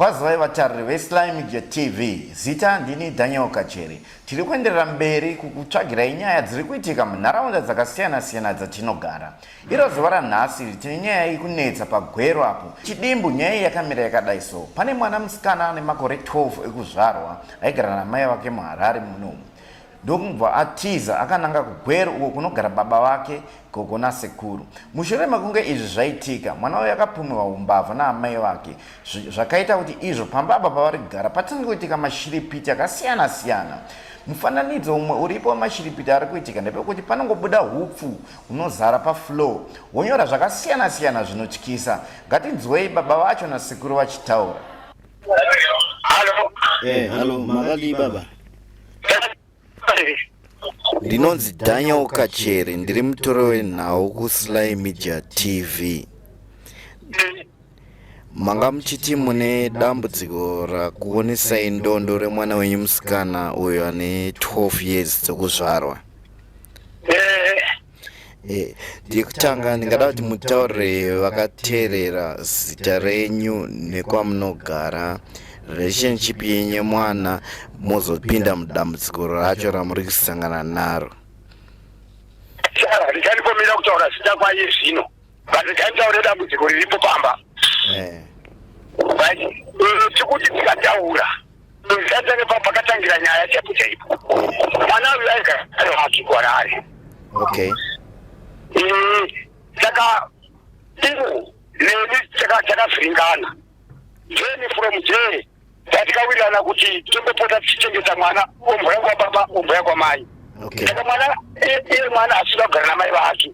kwazivai vatariri vesly media tv zita ndini daniel kacheri tiri kuenderera mberi kukutsvagirai nyaya dziri kuitika munharaunda dzakasiyana-siyana dzatinogara Iro zuva ranhasi tine nyaya ikunetsa pagwero apo chidimbu nyaya iyi yakamira yakadai so pane mwana musikana ane makore 12 ekuzvarwa aigara namai vake muharare munomu ndokumubva atiza akananga kugwero uko kunogara baba vake gogo nasekuru mushure mekunge izvi zvaitika mwana uyo akapumiwa umbavha naamai vake zvakaita kuti izvo pamba apa pavari kugara patange kuitika mashiripiti akasiyana siyana mufananidzo umwe uripo wemashiripiti ari kuitika ndepekuti panongobuda hupfu Hunozara pafloor honyora zvakasiyana siyana zvinotyisa. Ngatinzwei baba vacho nasekuru vachitaura. Halo. Eh, halo, makadii baba? Ndinonzi Daniel Kachere, ndiri mutoro wenhau kuSly Media TV. manga muchiti mune dambudziko rakuonesai ndondo remwana wenyu musikana uyo ane 12 years dzekuzvarwa Eh, Eh, ndikutanga ndingada kuti mutaurire vakateerera zita renyu nekwamunogara relationship yenyu mwana mozopinda mudambudziko racho ramuri kusangana naro saka ndichanipomera kutaura zita kwaye zvino but taitaura dambudziko riripo pamba eh. but eh, tikuti tikataura zvisatange pa pakatangira nyaya chaipo chaipo eh. mwana uyu aigara wake kwarari okay saka ivo neni takavhiringana then from there tatikawirirana kuti tombopota tichichengeta mwana ombo yangu wababa ombo yangu wamai saka mwana iye mwana asina kugara namai vake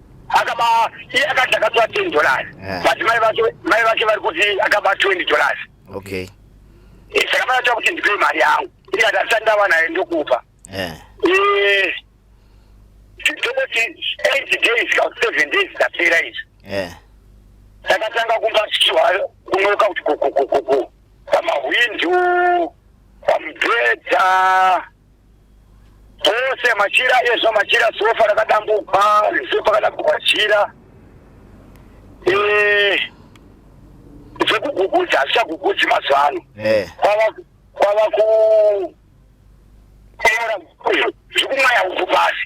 akaba iye akati akatora ten dollars yeah. but mai vake mai vake vari kuti akaba twenty dollars okay eh, saka vanoita kuti ndipe mari yangu ikati asati ndava nayo ndokupa yeah. eh, tokoti eight days ka seven days dzapera izvi yeah. takatanga kumba chichiwa kunoka kuti kokokokoko pamahwindu pamubhedha ose machira ezvo machira sofa rakadambuka sofa rakadambuka chira eh, zvekugugudza hazvichagugudzi mazuva ano eh. kwava ku zvekumwaya uku pasi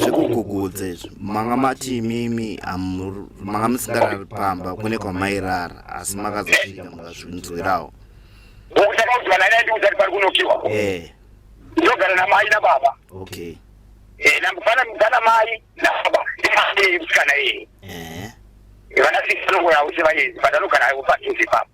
zvekugugudza izvo manga mati imimi manga musingarari pamba kune kwamairara asi makazosvika mukazvinzwirawo ndakaudzwana naye ndiudza kuti pari kunokiwa eh. ndogara namai nababa okay eh, namufana mugana mai nababa ndimaei musikana iyeye eh. vanasikana ngoyausi vaezi vadanogara aivo patunzi papa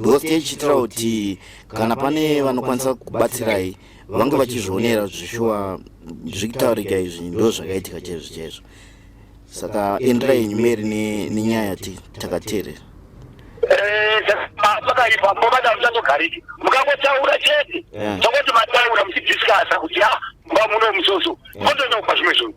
Ghost ichitira kuti kana pane vanokwanisa kubatsirai vange vachizvionera zvishuwa zvikutaurika izvi ndo zvakaitika chaizvo chaizvo saka endera yenyu meri nenyaya yati takateerera pakaipa mbobata musazogariki mukangotaura chete tongoti mataura muchidhiskasa kuti ha mba muno musoso motonopa zvimwe zvinhu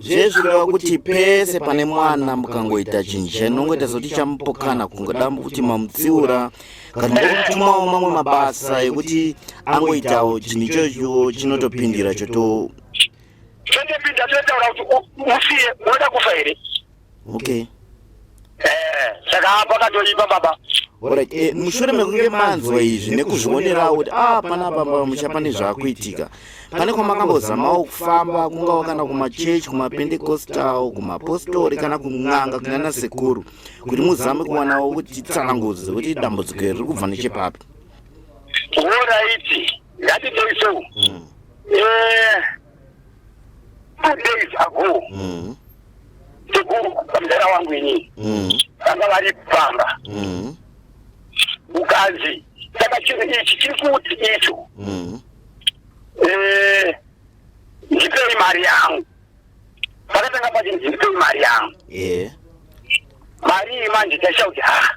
zvezvireva kuti pese pane mwana mukangoita chinhu chainongoita zoti chamupokana kungoda kuti mamutsiura kana ngokutumawo mamwe mabasa ekuti angoitawo chinhu ichocho chinotopindira choto chotopinda chotaura kuti usiye woda kufa here okay eh saka apa katoipa baba Alright, eh, mushure mekunge manzwa izvi nekuzvionerawo kuti ah pana baba musha pane zvakuitika pane kwamakambozamawo kufamba kungawo kana kumachechi kumapendekostal kumapostori kana kun'anga kunana sekuru kuti muzame kuwanawo kuti tsanangudzo kuti dambudziko iri riri kubva nechepapi Alright, ngatitei so. Mm. Eh, two days ago mm. sekuru mdara wangu inini mm. vanga vari pamba mm. ukanzi saka chinhu ichi chiri kuti icho mm. eh, ndipei mari yangu pakatanga pachinzi ndipei mari yangu yeah. mari iyi manje taisha kuti ha ah,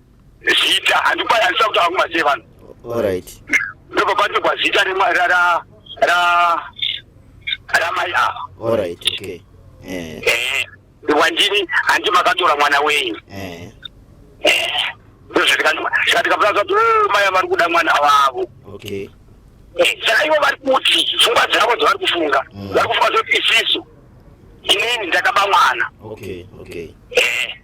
zita handikwanisa kutaura kumazee vanhu orit ndobva patikwa zita ramai ava orit okay eh. Eh, wandini handi makatora mwana wenyu eh. ndozvatikamazati oh, maya vari kuda mwana wavo okay saka ivo vari kuti pfungwa dzavo dzavari kufunga mm. vari kufunga zoti isisu inini ndakaba mwana okay okay eh.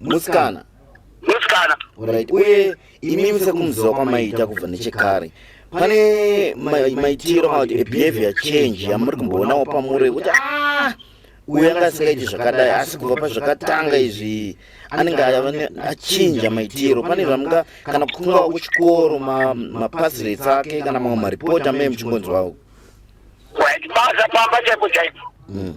musikana musikana right uye imi musekumuziva kwamaiita kubva nechekare pane maitiro kana kuti behavior change yamuri kumboonawo pamuri kuti ah, uyo anga asingaiti zvakadai asi kubva pazvakatanga izvi anenge achinja maitiro pane zvamunga kana kungawa kuchikoro mapasirets ake kana mamwe maripoti amene muchingonzwawo basa pamba chaipo chaipo hmm.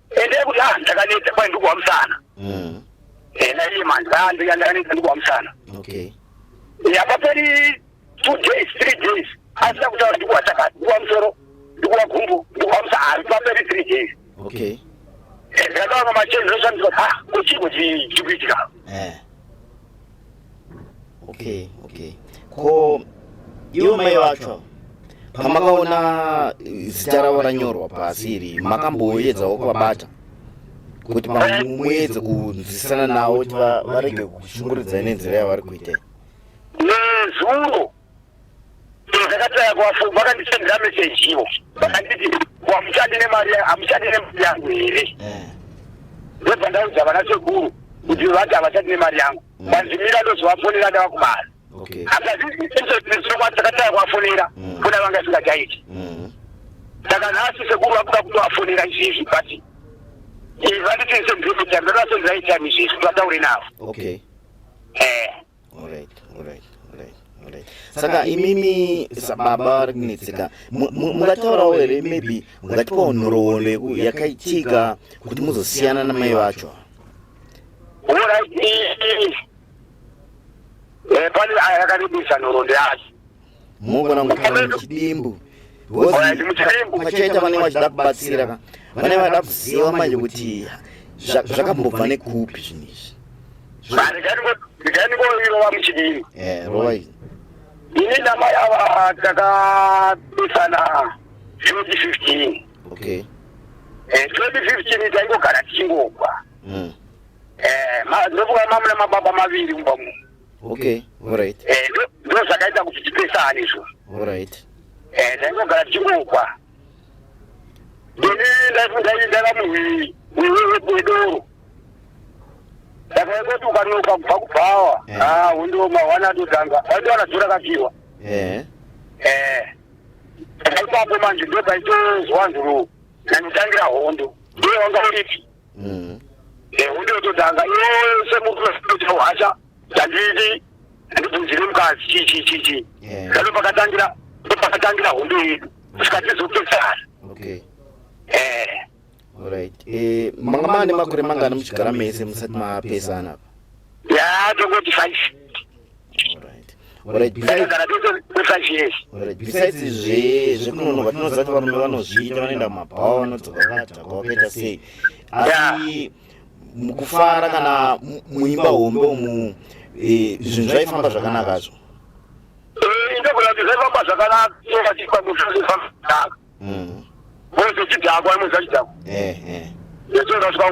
Endai kuti ah ndakaneta kwai ndikuwa musana. Mm. Ena iye manje ah ndakaneta ndikuwa musana. Okay. Yapaperi 2 days 3 days asina kutaura ndikuwa chakati ndikuwa musoro ndikuwa gumbo ndikuwa musana ah, yapaperi 3 days. Okay. Ndakaona machenzi oshandiswa ah kuchiko chikuitika. Eh. okay okay ko iwe mai vacho pamakaona zita ravo ranyorwa pasi iri makamboyedzawo kuvabata kuti pamwe muedze kunzwisisana navo kuti varege kushunguridzai nenzira yavari kuita nezuro ndakataya kuvafonga vakandisendera meseji ivo vakanditi wamuchati nemari amuchati nemari yangu here eh. ndobva ndaudza vana sekuru kuti vati havachati nemari yangu mm. vanzimira ndozovafonera ndava kumari akazviiakataya kuvafonera mm. fona vanga singataiti mm. saka nhasi sekuru vakuda kutovafonera izvizvi but eh, vanditi sendromita ndorasenzaitani izvizvi vataure navo eh. Alright, alright, alright, alright. Saka imimi sababa vari kunetseka mu- mu- mungataurawo here maybe mungatipawo nhoroondo yeku- yakaitika kuti muzosiyana namai vacho Alright, eh, eh, eh, pane aya akarebesa nhoroondo yacho mungona kugara muchidimbu vachete vanenge vachida kubatsira ka vanenge vada kuziva manje kuti zvakambobva nekupi zvinhu izvi ndikanikoirova muchidini eh, rova izvi ini namai ava takabesana 2015 okay 2015 eh, taingogara tichingogwa hmm. eh, ndofunga mamuna mababa maviri kumba munhu okay alright eh ndo zvakaita kuti tipesane izvo alright eh ndaingogara tichingokwa ndini ndaifundaidara muhwii wedoro ndakaingoti ukanoka kubva kubhawa eh. ah, undiwo mawana atotanga aitowana dzora kapiwa eh. eh. ndaipapo manje ndopaitozwanzuro nanditangira hondo ndiye wanga uripi mm. eh, undiyototanga iwe semukuacha ndandidi ndibvunzire mukadzi chii chii chii chii ndano pakatangira ndo pakatangira hondo yedu kusvika tizopesana okay eh Alright. Eh, manga manga nemakore mangani muchigara mese musati mapesana apa? Ya, tongoti 5. besides izvi zvekunonoka tinoziva kuti varume vanozviita vanoenda mumabhawa vanodzoka vakadhaka vakaita sei asi mukufara kana muimba hombe umu e, zvinhu zvaifamba zvakanaka zvo zvaifamba zvakanaka mwese chidhakwa mwese chidhakwa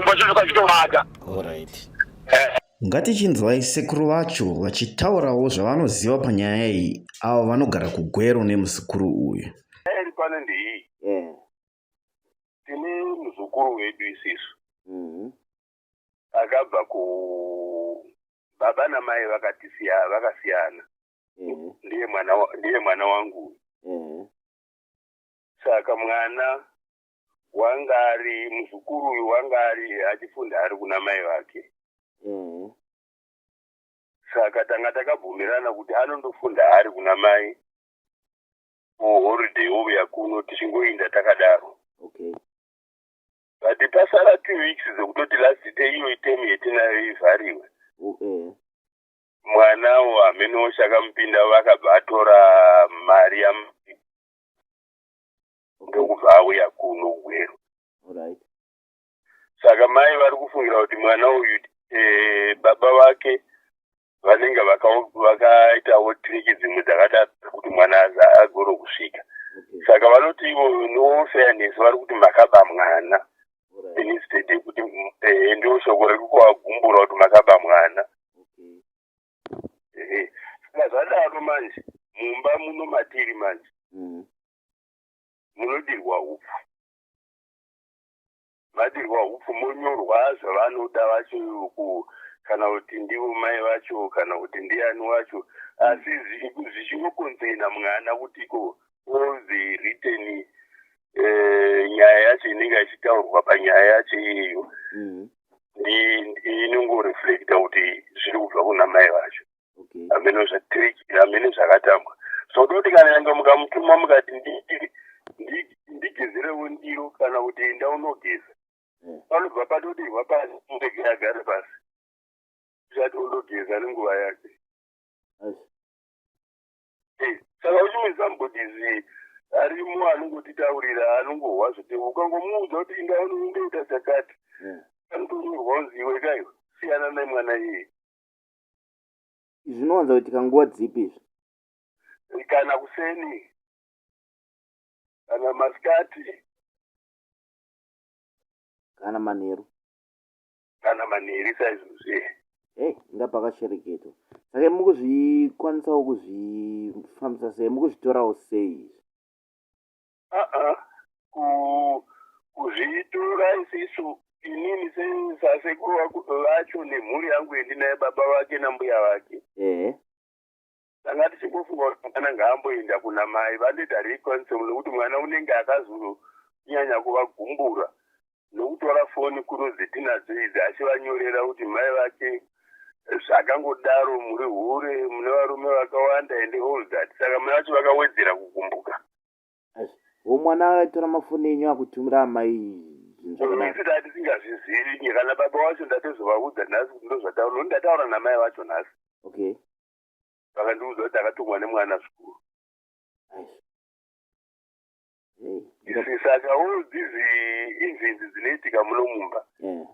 zvachizoka zvitomata Ngatichinzwai sekuru vacho vachitaurawo zvavanoziva panyaya iyi avo vanogara kugwero nemuzukuru uyu. Iri pano ndeiyi mm. tine muzukuru wedu isisu mm-hmm. akabva ku baba namai vakatisiya vakasiyana mm-hmm. ndiye mwana ndiye mwana wangu mm-hmm. saka mwana wanga ari muzukuru uyu wanga ari achifunda ari kuna mai vake mm-hmm. saka tanga takabvumirana kuti anondofunda ari kuna mai kuholiday ouya kuno tichingoinda takadaro but pasara two weeks dzekutoti last day iyo item yetinayo ivhariwe mm-hmm. mwana wo hamenowo chakamupinda vakabva atora mari yam ndokubva auya kuno gweru right. saka mai vari kufungira kuti mwana uyu e, baba vake vanenge vakaitawo vaka triki dzimwe dzakadaro kuti mwana agoro kusvika okay. saka vanoti ivo nofairness vari kuti makaba mwana right. instead yekuti e, ndo shoko riri kuvagumbura kuti makaba mwana okay. e, zvadaro manje mumba muno matiri manje mm. munodirwa hupfu madirwa hupfu monyorwa zvavanoda vacho kana kuti ndivo mai vacho kana kuti ndiani wacho asi zvichingokonzena mwana kuti ko all the written eh, nyaya yacho inenge ichitaurwa panyaya yacho iyeyo mm-hmm. inongoreflecta kuti zviri kubva kuna mai vacho hameno zvetiriki hameno zvakatambwa so toti kana yange mukamutuma mukati ndigezerewo ndiro kana kuti enda unogeza hmm. panobva patodirwa pasi ndege yagare pasi zvati undogeza nenguva yake eh, saka uchimizambodizi arimo anongotitaurira anongohwa zvete ukangomuudza kuti inda unondoita chakati hmm. anotonyorwa unzi iwe kaiwa siyana nemwana iyeye izvi zvinowanza kuitika nguva dzipi izvi kana kuseni kana masikati kana manheru kana manheri saizvozve hey inga pakashereketwa saka mukuzvikwanisawo kuzvifambisa sei mukuzvitorawo sei izvi aa kuzvitora isisu inini sasekuru vacho nemhuri yangu yendinaye baba vake nambuya vake ehe tanga tichingofunga kuti mwana ngaamboenda kuna mai vandoita reconcil nekuti mwana unenge akazonyanya kuvagumbura ndokutora foni kuno dzetinadzo idzi achivanyorera kuti mai vake zvakangodaro muri hure mune varume vakawanda and all that saka mai vacho vakawedzera kugumbuka wo mwana aitora mafoni enyu akutumira amai zvinzvakanaiita atisingazvizivi nye kana baba wacho ndatozovaudza nhasi kuti ndozvataura noti ndataura namai vacho nhasi okay vakandiudza kuti akatumwa nemwana zvikuru saka all these incidents dzinoitika muno mumba mm.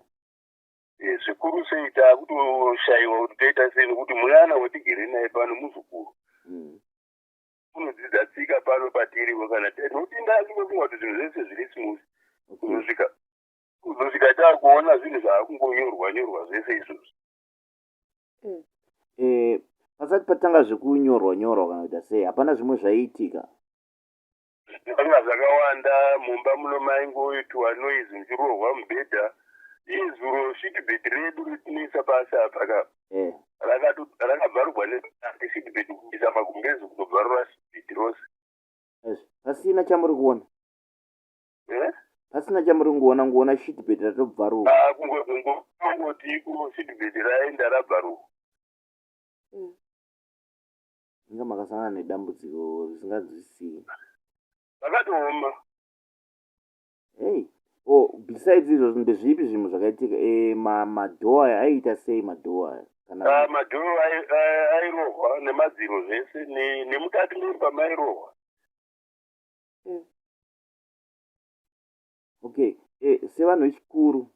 eh, zvikuru sei taakutoshayiwa kuti toita sei nokuti mwana watigere naye pano muzukuru mm. unodzidza tsika pano patiriwo kana tinotinda kungofunga kuti zvinhu zvese zviri smooth kuzosvika kuzosvika taakuona zvinhu zvaakungonyorwa nyorwa zvese izvozvo mm. eh, pasati patanga zvekunyorwa nyorwa kana kuita sei hapana zvimwe zvaiitika ndanga zvakawanda mumba muno maingoitwa noise ndichirohwa mubhedha izuro sitbed redu ritinoisa pasi apa ka mm. rakabvarugwa nesitbed kuisa magumbezi kunobvarura sitbed rose pasina chamuri kuona eh? pasina chamuri kungoona ngoona sitbed ratobvaruka ah, kungoti iko sitbed raenda rabvaruka mm. inga makasangana nedambudziko risinganzwisii zvakatooma hey o oh, besides izvozvo ndezvipi zvinhu zvakaitika e, eh, madhoo aya aiita sei madhoo aya kana ah, madhoo airohwa nemadziro zvese nemukati memba mairohwa eh. okay eh, sevanhu vechikuru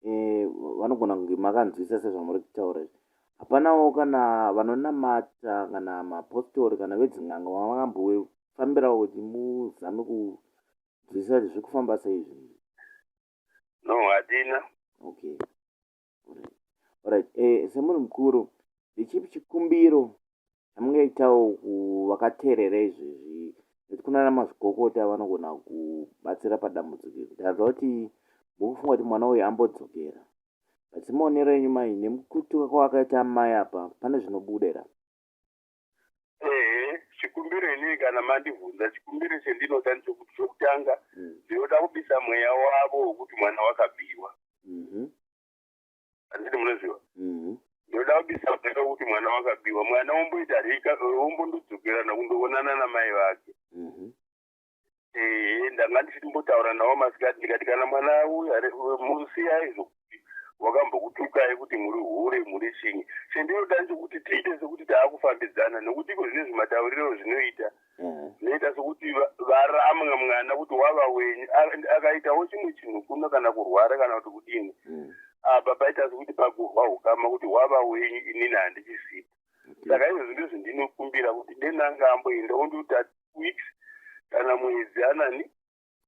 eh, vanogona e, kunge makanzwisa sezvamuri kutaura izvi hapanawo kana vanonamata kana mapostori kana vedzin'anga vamangambofambirawo kuti muzame kunzwisa kuti zviri kufamba sei zvinhu no hatina okay orit e, eh, semunhu mukuru ndechipi chikumbiro Zvamungaitawo kuvakateerera izvezvi nekuti kuna namazvikokota vanogona kubatsira padambudziko iri kuti hanzva kuti mukufunga kuti mwana uyu ambodzokera but semaonero enyu mai nemukutuka kwavakaita amai apa pane zvinobuda ira ehe chikumbiro inii kana mandibvunza chikumbiro chendinoda ndichokuti chokutanga mm. ndinoda kubisa mweya wavo wokuti mwana wakabiwa mhm. handiti munoziva mhm. ndoda kubisa peka kuti mwana wakabiwa mwana womboita rika wombondodzokerana kundoonana namai vake mhm. ehe ndanga ndichiti mbotaura nawo masikati ndikati kana mwana musiyai zvokuti wakambokutukai kuti muri hure muri chinyi chendinoda nchokuti tiite sekuti taakufambidzana nekuti iko zvine zvimatauriro zvinoita mm. zvinoita sekuti varamwa mwana kuti wava wenyu akaitawo chimwe chinhu kuno kana kurwara kana kuti kudini mm. apa paita sekuti pakurwa ukama kuti wava wenyu inini handichisipo saka izvo zvinhu izvi ndinokumbira kuti denanga amboenda ondiuta weeks kana mwedzi anani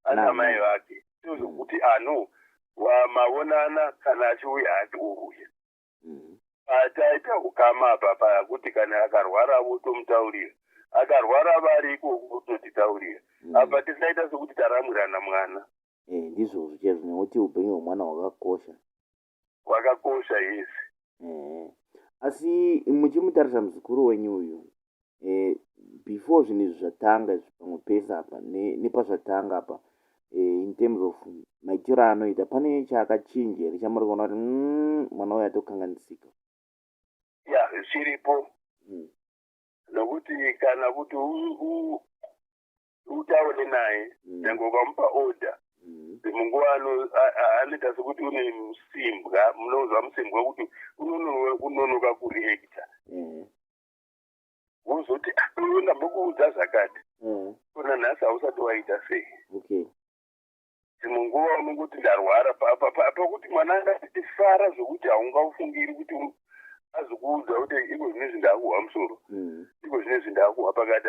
ana mai vake tozvokuti ano wamavonana kana achiuya hati uruya mhm. pataita ukama apa paya kuti kana akarwara votomutaurira akarwara vari ikoko vototitaurira mhm. apa tisaita sekuti taramwirana mwana eh, ndizvozvo chaizvo nekuti upenyu hwemwana hwakakosha hwakakosha yesi asi muchimutarisa muzukuru wenyu uyu eh, before zvinhu izvi zvatanga izvi pamwe pese apa nepazvatanga apa eh, in terms of maitiro anoita pane chaakachinja here chamuri kuona kuti mm, mwana uyo atokanganisika ya chiripo mm. nokuti kana kuti utaure naye mm. nyange ukamupa order munguva anoita sekuti une musimbwa munonzwa musimbwa kuti unonoka kureacta wozoti iwe ndambokuudza zvakati kona nhasi hausati waita sei dzimwe nguva unongoti ndarwara pakuti mwana angatifara zvokuti haungaufungiri kuti azokuudza kuti iko zvine zvi ndakuhwa musoro mm. iko zvine zvi ndakuhwa pakati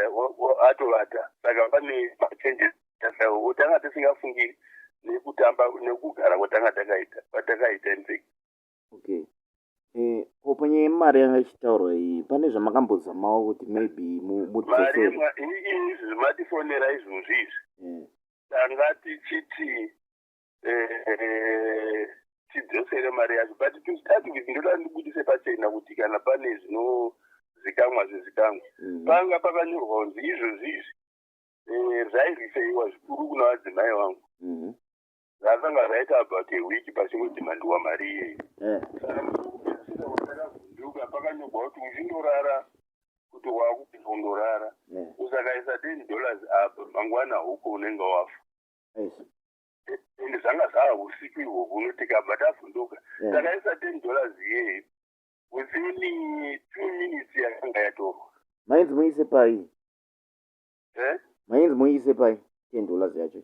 atovata saka pane machanges tasao otanga tisingafungiri nekutamba nekugara kwatanga takaita kwatakaita infect Okay. Eh, ko panyaya yemari yanga ichitaurwa iyi pane zvamakambozamawo kuti maybe mudzosere izvi matifonera izvozvi izvi eh. tanga tichiti eh, tidzosere mari yacho but tostati kuti ndoda ndibudise pachena kuti kana pane zvinozikamwa zvizikamwa mm. panga pakanyorwa kunzi izvozvi izvi eh, zvairifeiwa zvikuru kuna vadzimai vangu mm-hmm. zvakanga zvaita about a week pachingodhimandiwa mari iyeyi eh. saka ndokupedzisira watakavhunduka pakanyogwa kuti uchindorara kuti waakupedza kundorara eh. usakaisa ten dollars apa mangwana huko unenge wafa and zvanga zvava usiku ihwohwo unotikabva tavhunduka eh. takaisa ten dollars iyeyi within two minutes yakanga yatorwa mainzi muise pai mainzi muise pai ten dollars yacho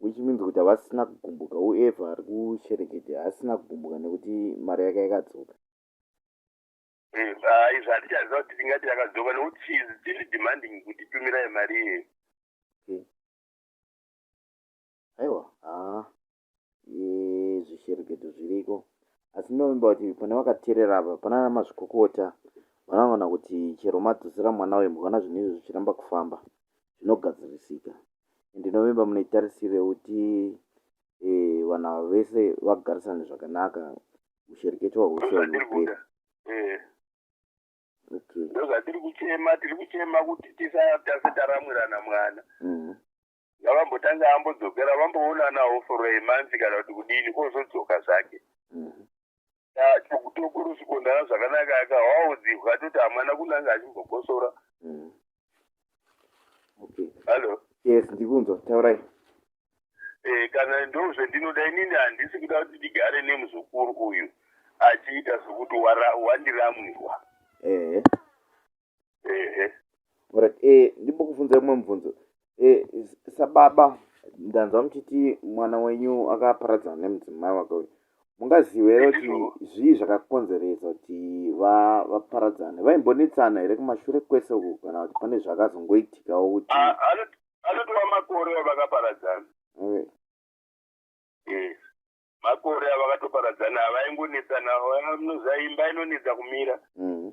which means kuti havasina kugumbuka whoever ari kusherekete haasina kugumbuka nekuti mari yake yakadzoka izvi hatichaziva kuti tingati yakadzoka nekuti she is still demanding kuti tumirai mari iye aiwa haa zvishereketo zviriko asi ndinovimba kuti pane vakateerera apa panana mazvikokota vanoona kuti chero madzosera mwana uyu mukaona zvinhu izvo zvichiramba kufamba zvinogadzirisika ndinovimba mune tarisiro yekuti eh, vanhu ava vese vagarisane zvakanaka ushereketwa hwese hunopera eh. okay. ndozvatiri kuchema tiri kuchema kuti tisatase taramwirana mwana mm. ngavambotanga mm. ambodzokera vamboonanawo for a month kana kuti kudini ozodzoka zvake mm. Ah, chokutokorosi kondana zvakanaka akawaodzihwa atoti hamwana kunanga achimbokosora Mm. Okay. hallo Yes, ndikunzwa. Taurai. Eh, kana ndozvendinoda inini handisi kuda kuti ndigare nemuzukuru uyu achiita sokuti wara- wandiramwiwa Eh. right eh ndimbokufunza umwe mubvunzo eh sababa ndanzwa muchiti mwana wenyu akaparadzana nemudzimai wake uyu mungaziva here kuti zvii zvakakonzeresa kuti vaparadzane vaimbonetsana here kumashure kwese uku kana kuti pane zvakazongoitikawo kuti ah, anotova makore avakaparadzana makore avakatoparadzana avaingonetsana imba inonetsa kumira mm.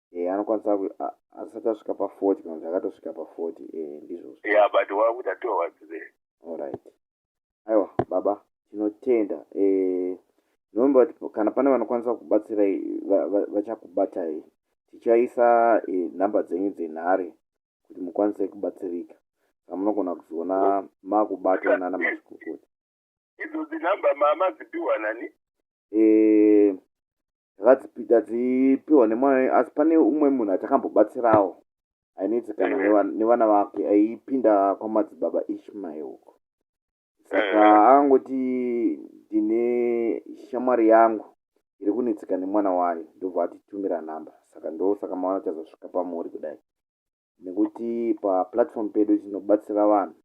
eh, anokwanisa asati asvika paforty kana kuti akatosvika paforty eh, ndizvozvo yeah, but wakuda towards there allright aiwa baba tinotenda eh, nomba kuti kana pane vanokwanisa kubatsirai vachakubatai va, va tichaisa eh, nhamba eh, dzenyu dzenhare kuti mukwanise kubatsirika amunogona kuzoona makubatwa nana mazvikokota idzo dzinhamba mama dzipiwa nani eh, tadzipiwa nemwana asi pane umwe munhu atakambobatsirawo ainetsi kana mm. nevana vake aipinda kwamadzibaba ishmael uko saka mm. angoti ndine shamwari yangu iri kunetseka nemwana wayo ndobva atitumira nhamba saka ndo saka maona chazosvika pamuri kudai nekuti paplatform pedu tinobatsira vanhu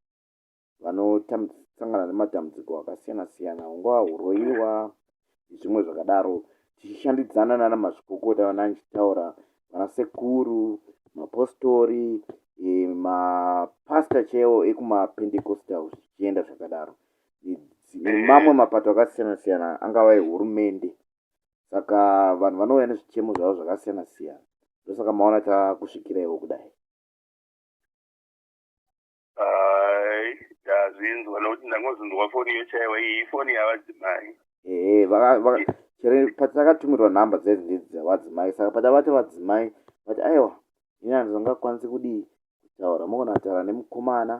vanosangana nematambudziko akasiyana siyana hungava huroyiwa nezvimwe zvakadaro tichishandidzana nana mazvikokota vana ndichitaura vana sekuru mapostori eh, mapasta chaiwo ekumapendecostal zvichienda zvakadaro nemamwe mapato akasiyana siyana angava ehurumende saka vanhu vanouya nezvichemo zvavo zvakasiyana siyana ndosaka maona takusvikiraiwo kudai ndazvinzwa nokuti ndangozvinzwa foni iyo chaiwa iyi ifoni yavadzimai ehe chere patakatumiriwa nhamba dzaizi ndidzi dzavadzimai saka patavati vadzimai vati aiwa ini handizongakwanisi kudii kutaura mokonataura nemukomana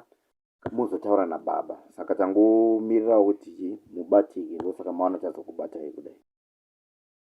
muzotaura nababa saka tangomirirawo kuti mubatike ndosaka maona tazokubatai kudai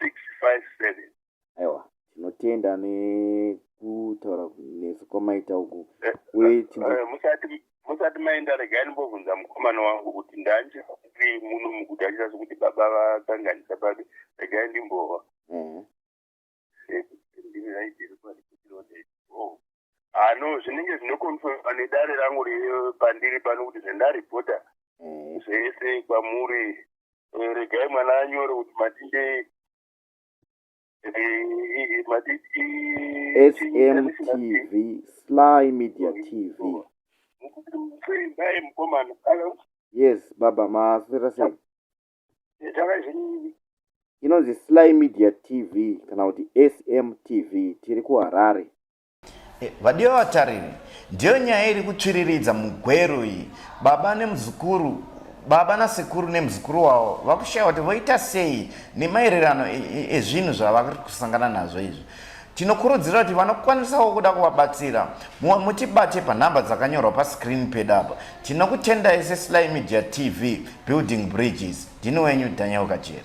657 aiwa tinotenda nekutaura nesu kwamaita uku eh, uye eh, eh, musati musati maenda regai ndimbobvunza mukomana wangu kuti ndandichiri muno mukuti achita sokuti baba vakanganisa babe regai ndimbova mhm. ndimi raidiri kwadi ah no zvinenge zvinokonfirma nedare rangu pandiri pano kuti zvendaripota mm. zvese kwamuri eh, regai mwana anyore kuti matinde eh, smtv sly media tv yes baba maasirasei takazvinini inonzi sly media tv kana kuti sm tv tiri kuharare eh, vadiwa vatariri ndiyo nyaya iri kutsviriridza mugwero iyi baba nemuzukuru baba nasekuru nemuzukuru wavo vakushaya kuti voita sei nemaererano ezvinhu e, e, zvavari kusangana nazvo izvi Tinokurudzira kuti vanokwanisawo kuda kuvabatsira mumwe mutibate panhamba dzakanyorwa pascreen pedu apa. Tinokutendai seSly Media TV, Building Bridges. Ndini wenyu Daniel Kacheri.